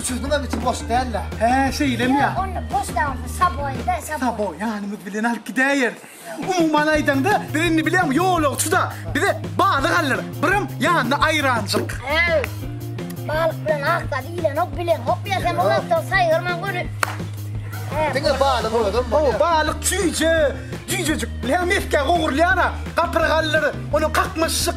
Üçüsiniňem içi boş däl-le. Hä, şeýlemi ýa? Ýok, onda boş däl, onda saboýda, saboý. Saboý, ýanymyz bilen alyp gidäýeris. Umuman aýdaňda, biz indi bileňmi, ýolagçy-da, bize balyk aldylar, birem ýanyna aýranjyk. Äý, balyk bilen ak zady iýilenok, bileňok ýa sen, ondan soň saýgarman göni. Diňe balygyň özem bolýar. Hawa, balyk çüýje, jüýjejik, bilýäňmi, mesgä gowrulýar-a, gapyrgalylar, onuň kakmaşyk.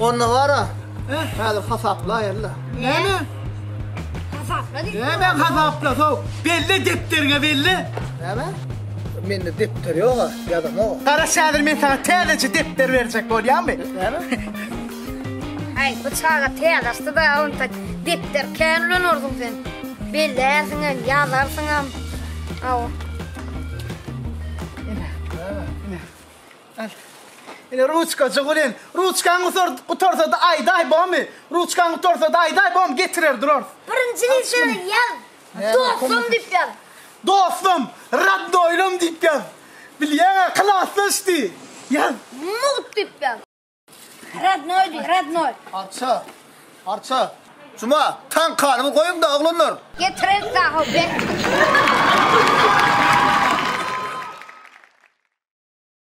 Onda gara, häzir hasaplaýynla. Näme? Hasapla diýdim. Näme hasapla, sow. Belle depderiňe, belle. Näme? Mende depder ýog-a, ýazamog-a. Gara, häzir men saňa täzeje depder berjek bolýamy? Näme? Aý, bu çaga täzasdy-da, onta depder kän ulanarsyň sen. Bellärsiňem, ýazarsyňam. Aw. Ine. Näme? Ine. Ine ruçkajygy bilen. Ruçkaň gutar, gutarsada aýdaý bomy? Ruçkaň gutarsada aýdaý bomy? Getirer durars. Birinji litre ýaz. Dostum diýip ýaz. Dostum, radnoýlym diýip ýaz. Bilýäň-ä, klasdaş diý. Ýaz. Mugt diýip ýaz. Radnoý diý, radnoý. Arça. Arça. Juma, taňkanyňy goýuň-da, oglanlar. Getireris sahow, ber.